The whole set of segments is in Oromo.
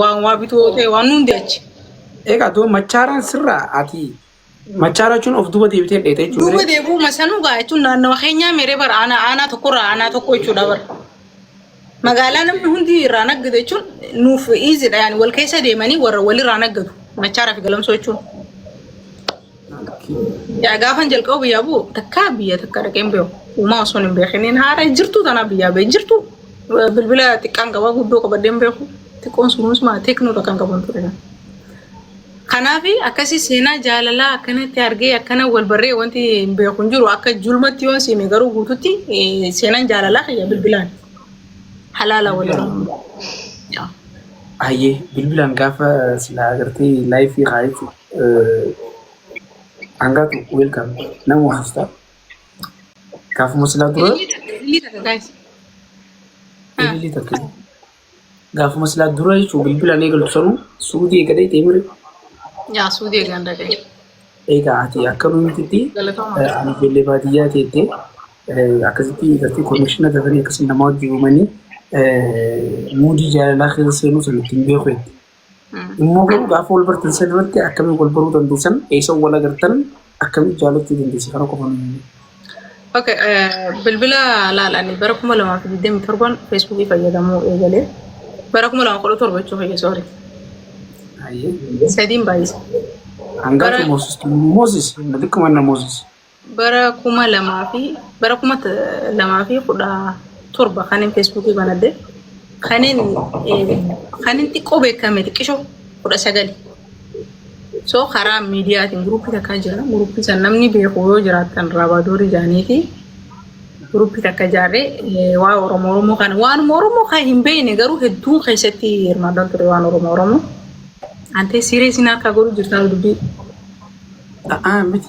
Waan waa bituu yoo ta'e waan hundi achi. Egaa too machaaraan sirraa ati machaara jechuun of duuba deebitee dheete jechuudha. Duuba deebuu masanuu gaa jechuun naannawa keenyaa meeree bara aanaa aanaa tokkorraa aanaa tokko jechuudha bara. Magaalaa namni hundi irraa naggatu jechuun nuuf iizidha yaani wal keessa deemanii warra walirraa naggatu machaara fi galamsoo jechuun. Yaa gaafan jalqaba biyyaa bu'u takkaa biyya takka dhaqeen beeku. Uumaa osoo hin beekiniin haara hin jirtu tanaa biyyaa ba'e hin jirtu. Bilbila xiqqaan qabaa guddoo qabadhee hin beeku. Xiqqoon sunuus maa teeknoodha kan qaban ture. Kanaaf akkasii seenaa jaalalaa akkanatti argee akkana wal barree wanti hin beeku hin jiru akka julmatti yoon siime garuu guututti eh, seenaan jaalalaa kiyya bilbilaan halaala waliin. Hayyee bilbilaan gaafa silaa agartee laayifii haa jechuudha. Hangaatu welcome namu hafta. Gaafuma silaa dura Ilillii takka guys. Ah. bilbilii takka. Gaafuma silaa dura jechuun bilbilaan eegalu sanuu suudii eegalee deemire. Yaa suudii eegaan dhaqee. Egaa ati akka nuti Galatooma. ani ijoollee baadiyyaa teettee akkasitti irratti konekshiina dafanii akkasii namaa wajjin uumanii muudii jaalalaa keessa seenuu sana ittiin beeku jetti. Immoo garuu gaafa wal bartan san irratti akkamiin wal baruu dandeessan eessa wal agartan akkamiin jaalachuu dandeessi kana qofa nuyi. Okay, bilbila laalanii bara kuma lamaa fi digdamii torban feesbuukii fayyadamuu eegalee bara kuma lama kudha torba jechuun fayyee soori. Sadiin baay'isa. Hangaa Bara- Moosis Moosis xiqquma na Moosis. bara kuma lamaa fi bara kuma t- lamaa fi kudha torba kanin feesbuukii banadhe kanin eh, kanin xiqqoo beekame xiqqisho kudha sagali so karaa miidiyaatiin guruppii takkaa jira guruppii san namni beeku yoo jiraattan raabaadoori jaaniiti guruppii takka jaarree eh, waa oromoo oromoo kana waanuma oromoo kan hin beekne garuu hedduun keessatti hirmaadhaan ture waan oromoo oromoo antee siireesiin harkaa godhu jirtaan dubbii A'aa miti.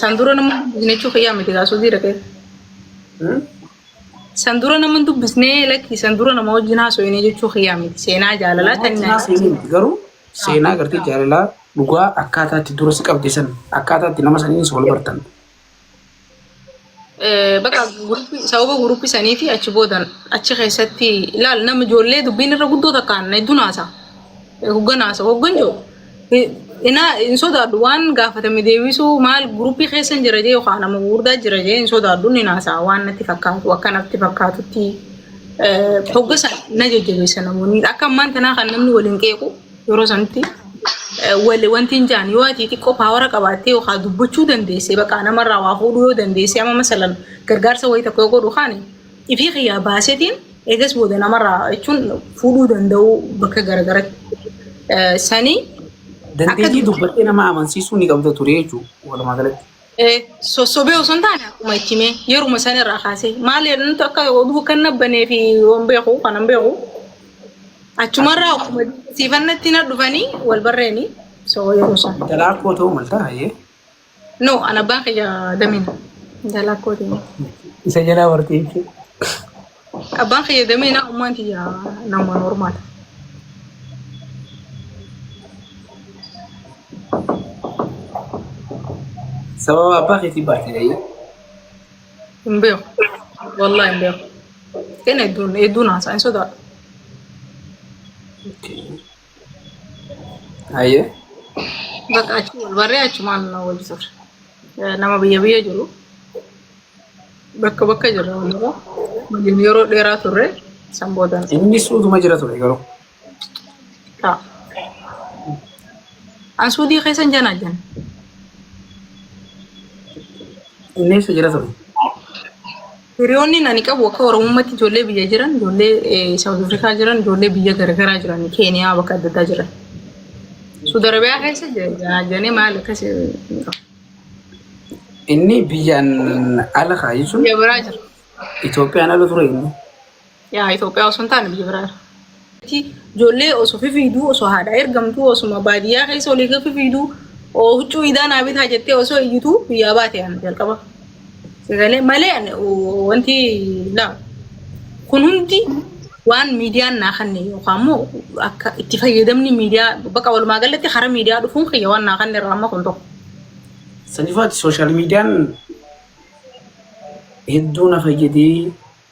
San dura nama dubbisne jechuu kiyyaa miti kaasuu fi dhaqee. San dura nama hin dubbisne lakki san dura nama wajjin haasofne jechuu kiyyaa miti seenaa jaalalaa kan Namoota nyaatu. seenaa miti garuu seenaa gartee jaalalaa dhugaa akkaataatti dura si qabde san akkaataatti nama saniin si wal bartan. Bakka sababa guruuppii sanii fi achi boodan achi keessatti ilaal nama ijoollee dubbiin irra guddoo takkaan hedduun haasa. Hoggan haasa hoggan jiru. Inaa hin sodaadhu waan gaafatame deebisuu maal guruuppii keessa hin jira jee yookaan nama gurguddaa jira jee hin sodaadhu ni haasa waan natti fakkaatu akka natti fakkaatutti hoggasa na jajjabeessa namoonni akka ammaan tanaa kan namni waliin qeequ Yeroo sanatti wanti hin jaan yoo ati xiqqoo paawara qabaattee yookaan dubbachuu dandeessee bakka namarraa waa fuudhuu yoo dandeessee amma masalan gargaarsa wayii tokko yoo godhu kaani ifii kiyyaa baasetiin eegas booda namarraa jechuun fuudhuu danda'uu bakka garagaratti sanii. Dandeettii dubbattee nama amansiisuu ni qabda ture jechuudha walumaa galatti. Sossobee osoo hin taane akkuma itti mee yeruma san irraa kaasee maal jedhan akka oduu kan nabbanee fi waan beeku kan hin beeku achumarraa akkuma siifannatti na dhufanii wal barreeni so yeroo san. Intalaa koo ta'uu malta hayyee. No an abbaan kiyya damina intalaa kootiin. Isa jalaa warqee jechuudha. Abbaan kiyya damee naa ummaan tiyya namumaan hormaata. Sababa abbaa keetii baatee ta'ee. Hin beeku. Wallah hin beeku. Kan hedduun hedduun haasaa hin sodaadhu. Okay. Ayyee. Bakka achi wal barree achumaan wal turre. Nama biyya biyya jiru bakka bakka jirra walirra waliin yeroo dheeraa turre san booda Inni suutuma jira ture garuu. ta'a. An suudii keessan jana jana. Inni eessa jira ture? Hiriyoonni ani qabu akka Oromummatti ijoollee biyya jiran, ijoollee Saawuz Afrikaa jiran, ijoollee biyya garaagaraa jiran, Keeniyaa bakka adda addaa jiran. Suudi Arabiyaa keessa jennee maal akkas hin qabu. Inni biyyaan ala kaa jechuun Biyya biraa jira. Itoophiyaan ala ture inni. Yaa Itoophiyaa osoo hin taane biyya biraa. Ijoollee osoo fifiiduu osoo haadhaa ergamtuu osuma baadiyyaa keessa olii gadi fifiiduu huccuu idaa naa bitaa jettee osoo iyyituu biyyaa baate ani jalqaba. Sagalee malee ani wanti laa kun hundi waan miidiyaan naa kanne yookaan immoo akka itti fayyadamni miidiyaa bakka walumaa galatti karaa miidiyaa dhufuun kiyya waan naa kanne irraa amma kun tokko. Sanifaati sooshaal miidiyaan hedduu na fayyadee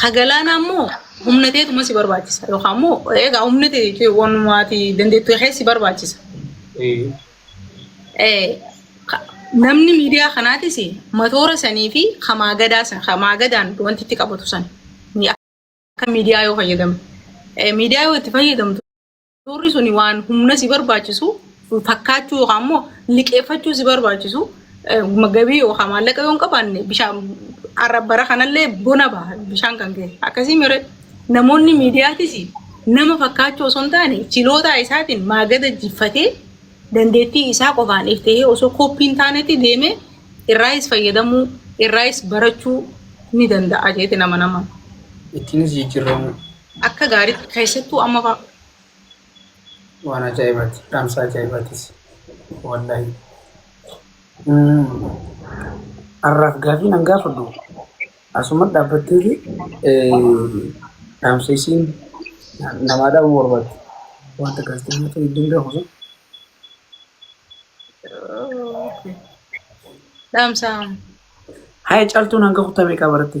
Ka galaanaa immoo humna teetuma si barbaachisa. Yookaan immoo egaa humna tee jechuun wanumaati dandeettu kee si barbaachisa. Eh, ka- Namni miidiyaa kanaatis matoora sanii fi kamaa gadaa san kamaa gadaan wanti itti qabatu san ni akka miidiyaa yoo fayyadamu. Eh, Miidiyaa yoo itti fayyadamtu Suurri suni waan humna si barbaachisu fakkaachuu yookaan immoo liqeeffachuu si barbaachisu gabii yookaan maallaqa yoo hin qabaanne bishaan bara kanallee bona baha bishaan kan ka'e. Akkasii mire namoonni miidiyaatis nama fakkaachuu osoo hin taane chilootaa isaatiin maagada jiffatee dandeettii isaa qofaan if ta'ee osoo koppii hin taanetti deemee irraayis fayyadamuu irraayis barachuu ni danda'a jeeti nama nama. Ittiinis jijjiirramuu. Akka gaariitti keessattuu amma fa'a. Waan ajaa'ibaati. Dhaamsa ajaa'ibaatis. Wallahi. Har'aaf gaafii nan gaafadhu. Asuma dhaabbatteeti dhaamsa isiin namaa dhaabuu barbaaddu. Wanta galtee himachuu hin danda'amu sun. Dhaamsa. Haya caaltuun hanga kutaa meeqaa baratte?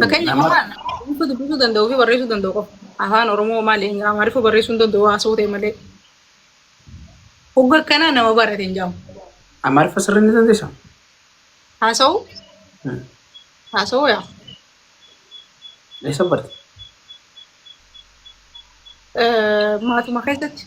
Fakkeenya nama waan dubbisuu dubbisuu danda'uu fi barreessuu danda'u qofa. Afaan Oromoo malee Amaariffaa barreessuu hin danda'u haasoo ta'e malee. Hogga akkanaa nama barate hin jedhamu. Amaariffa sirrii ni dandeessaa? Haasa'uu Hmm. haasa'uu yaa. Eessa barte? Eh, Maatuma keessatti.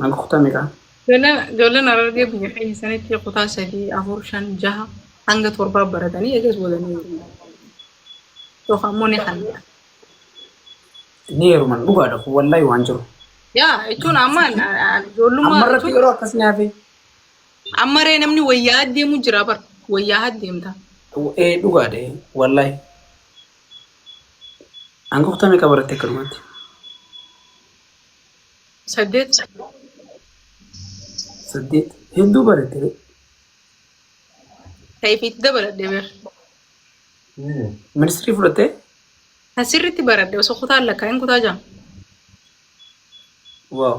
Kan kutame kan. Ijoolleen Harargee biyya keenya sanitti kutaa sadii, afur, shan, jaha hanga torbaa baratanii eegas booda ni heeruman. Yookaan immoo ni hallan. Ni heeruman dhugaadha kun wallahi waan jiru. Yaa jechuun amma ijoollummaa Ammarratti jechuun yeroo akkas ni hafe. ammaree namni wayyaa deemu jira bar wayyaa deemta. Ee dhugaadha ee, wallahi. Hanga kutame qabaratte akkanumatti. Saddeet. Saddeet. Hedduu barate. Tayfiitti dabaladhe bar. Ministirii fudhattee? Asirritti baradhe osoo kutaan lakkaa'in kutaa jama. Waaw.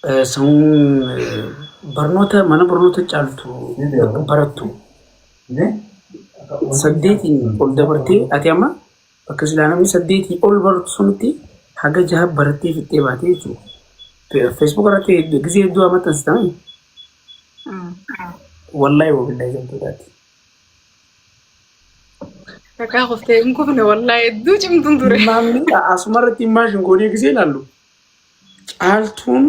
Eh, Sun eh, barnoota mana barnoota caaltu barattu. Saddeetiin ol dabartee ati amma Bakka silaa namni saddeetii ol baratu sunitti haga jaha barattee fixxee baatee jechuudha. Feesbuuk irratti gisee hedduu haa maxxansitamani. Wallahi wabillahi gamtoodhaati. Dhagaa qoftee hin kufne wallahi hedduu cimtuun ture. Maamni asuma irratti maashin goonee gisee ilaallu. Caaltuun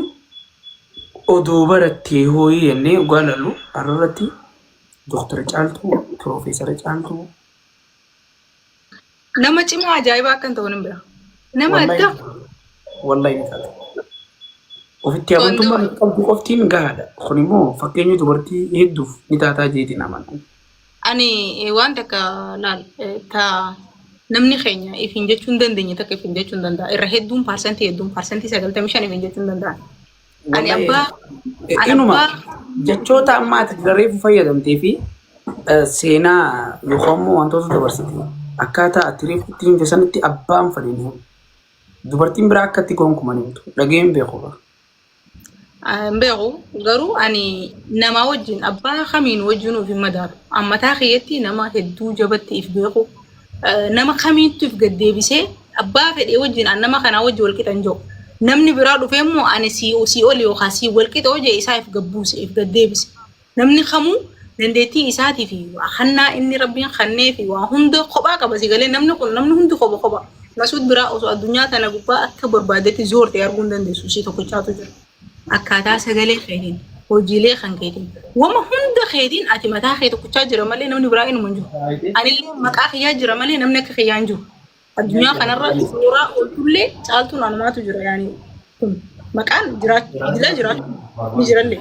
odoo barattee hooyii jennee dhugaa ilaallu har'a irratti doktara caaltuu, piroofeesara caaltuu, Nama cimaa ajaa'ibaa akkan ta'u nan bira. Nama Wallahi addaa. wallahi ni taata. Ofitti amantummaa Qondoo. qabdu qoftiin gahaadha. Kun immoo fakkeenya dubartii hedduuf ni taataa jeetiin amana. Ani eh, waan takka laal eh, ta namni keenya ifin jechuu hin dandeenye takka ifin jechuu hin danda'a. Irra hedduun parsantii hedduun parsantii sagaltamii shan ifin jechuu hin danda'a. Ani abbaa ani Inuma abbaa jechoota amma ati reefu fayyadamtee fi eh, seenaa yookaan immoo wantoota dabarsite akkaataa ati reefu itti himte sanitti abbaan fadhiin himu. Dubartiin biraa akka itti gonkuman himtu. Dhageen beeku. hin beeku garuu ani namaa wajjin abbaa kamiin wajjin of hin madaalu. Ammataa kiyyatti nama hedduu jabatti if beeku. nama kamiittuuf gaddeebisee abbaa fedhee wajjin an nama kanaa wajji wal qixan jiru. Namni biraa dhufee immoo ani sii sii oli yookaan sii wal qixa hojii isaa if gabbuuse if gaddeebise. Namni kamuu dandeettii isaatii fi hannaa inni rabbiin kannee fi waa hunda kophaa qaba si galee namni kun namni hundi kopha kopha. Masuud biraa osoo addunyaa tana gubbaa akka barbaadetti zoorte arguu hin dandeessu ishii tokkichaatu jira. akkaataa sagalee keetiin hojiilee kan keetiin wama hunda keetiin ati mataa kee tokkochaa jira malee namni biraa inuma hin jiru anillee maqaa kiyyaa jira malee namni akka kiyyaa hin jiru addunyaa kanarra suuraa ooltullee caaltuun anumaatu jira yaani kun maqaan jiraachuu jiraachuu ni jirallee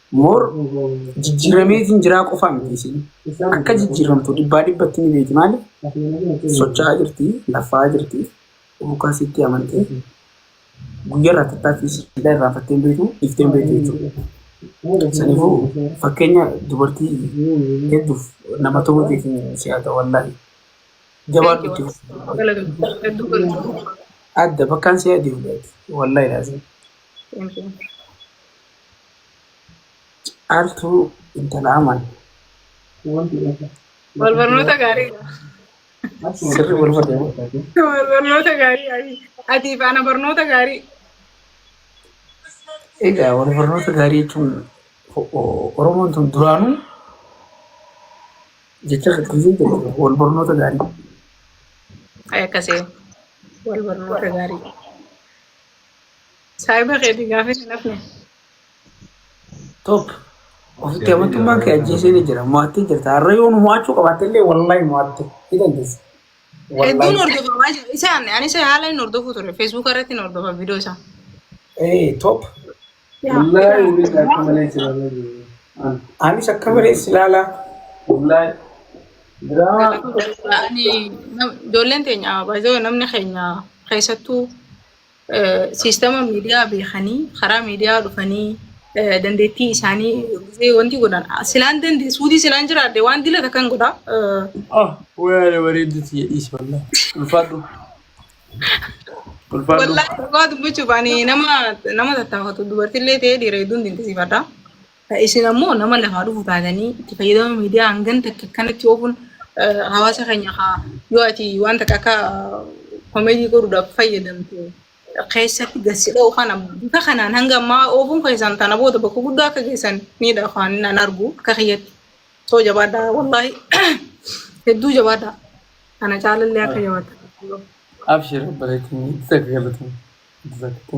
Moor jijjiirameetiin jiraa qofaa miti isiin. Akka jijjiiramtu dhibbaa dhibbatti ni beeki maali? Socho'aa jirti, laffaa jirti, bukaa sitti amantee. Guyyaa irraa tattaatti siidhaa irraanfattee hin beektu, dhiiftee hin beektu jechuudha. Saniifuu fakkeenya dubartii hedduuf nama ta'uu keetiin si haa ta'u wallaahi. Jabaadhu itti fufi. Galatoom. Hedduu galatoom. Adda bakkaan si haa deemu wallaahi laazim. Thank you. Caaltuu intala aman. Wal barnoota gaarii. Sirri wal barreewu. Wal barnoota gaarii. Ayii. Ati faana barnoota gaarii. Egaa wal barnoota gaarii jechuun o- o- Oromoon tun duraanuu jecha fakkisii jedhu wal barnoota gaarii. Ay akkasii. Wal barnoota gaarii. Saahiba keetii gaafii hin hafne. Tokko. Ofitti amantummaan kee ajjeesee ni jira. Mo'attee jirta. Har'a yoo nu mo'achuu qabaatte illee wallaahi mo'atte. Ni dandeessa. Hedduun Wallaahi. hordofamaa jira. Isa anne anis haala hin hordofuu ture. Feesbuuka irratti hin hordofa viidiyoo isaa. Ee top. Wallaahi waliin akka malee jiraanna jiru. An- Anis akka malee si ilaalaa. Wallaahi. Diraamaa. Kanaafuu jechuudha, ani nam- ijoolleen teenya baay'ee namni keenya keessattuu Siistama miidiyaa beekanii karaa miidiyaa dhufanii dandeettii isaanii gisee wanti godhan silaan dandee suutii silaan jiraadde waan dila takkan godha. Ah, wayaale bareedduuti jedhiis wallah. Ulfaadhu. Ulfaadhu. Wallaahi dhugaa dubbachuuf ani nama nama tattaafatu dubartillee ta'ee dhiira hedduun dinqisiifadha. Isin ammoo nama lafaa dhufu taatanii itti fayyadama miidiyaa hangan takka akkanatti oofuun hawaasa keenya haa yoo ati waan takka akka komeedii godhuudhaaf fayyadamtu keessatti gassi dha'u kana bifa kanaan hanga ammaa oofuun keessan tana booda bakka guddaa akka geessan miidha afaan nan argu akka kiyyatti soo jabaadha wallaahi hedduu jabaadha kana caalallee akka jabaadha. Abshir bareetiin itti galatan. Itti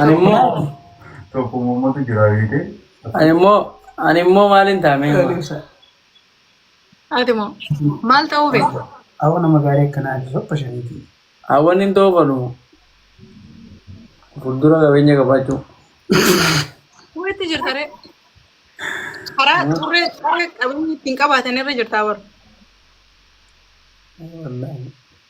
Ani immoo Tokkummaa uummata jira beekee. ani immoo ani immoo maaliin taamee Ati moo maal ta'uu beekta? Awa nama gaarii akkanaa ati sopha shaniiti. hawwan hin toofanu fuuldura qabeenya qabaachuu. Walitti jirta ree. Karaa xurree xurree qabeenyi ittiin qabaatan irra jirtaa bara. Wallaahi.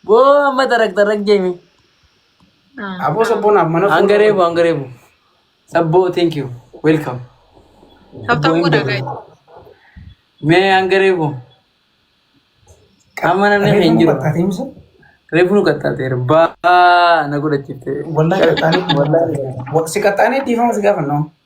Boo amma tarak tarak jeemi. Aboo sabboonaaf mana fuudhuu. Hanga reebu hanga reebu. Sabboo thank you. Welcome. Tabtaan godhaa gaa'e. Mee hanga reebu. Amma namni hin Reefu jiru. qaxxaatee misa? Reefu nu qaxxaateera. Baa na godhachiifte. Wallahi qaxxaanee. Wallahi. Si qaxxaanee dhiifama si gaafanna.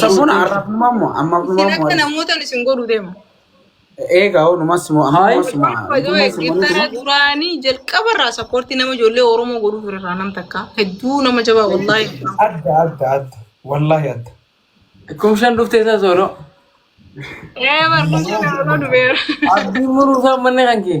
Sabboon arrabnumaa moo amma Isin numaa akka moo namootan isin godhu deema. eegaa hoo numas moo amma Hayi. numas moo By the way, numas moo Giftara nuti duraanii jalqaba irraa sappoortii nama ijoollee Oromoo godhuuf irraa nam takka. Hedduu nama jabaa wallaahi. adda adda adda wallahi adda Kum shan dhuftee isaa soolo. Ee barkumsa nama dubeera. Abdii muruu isaa manni kan kee.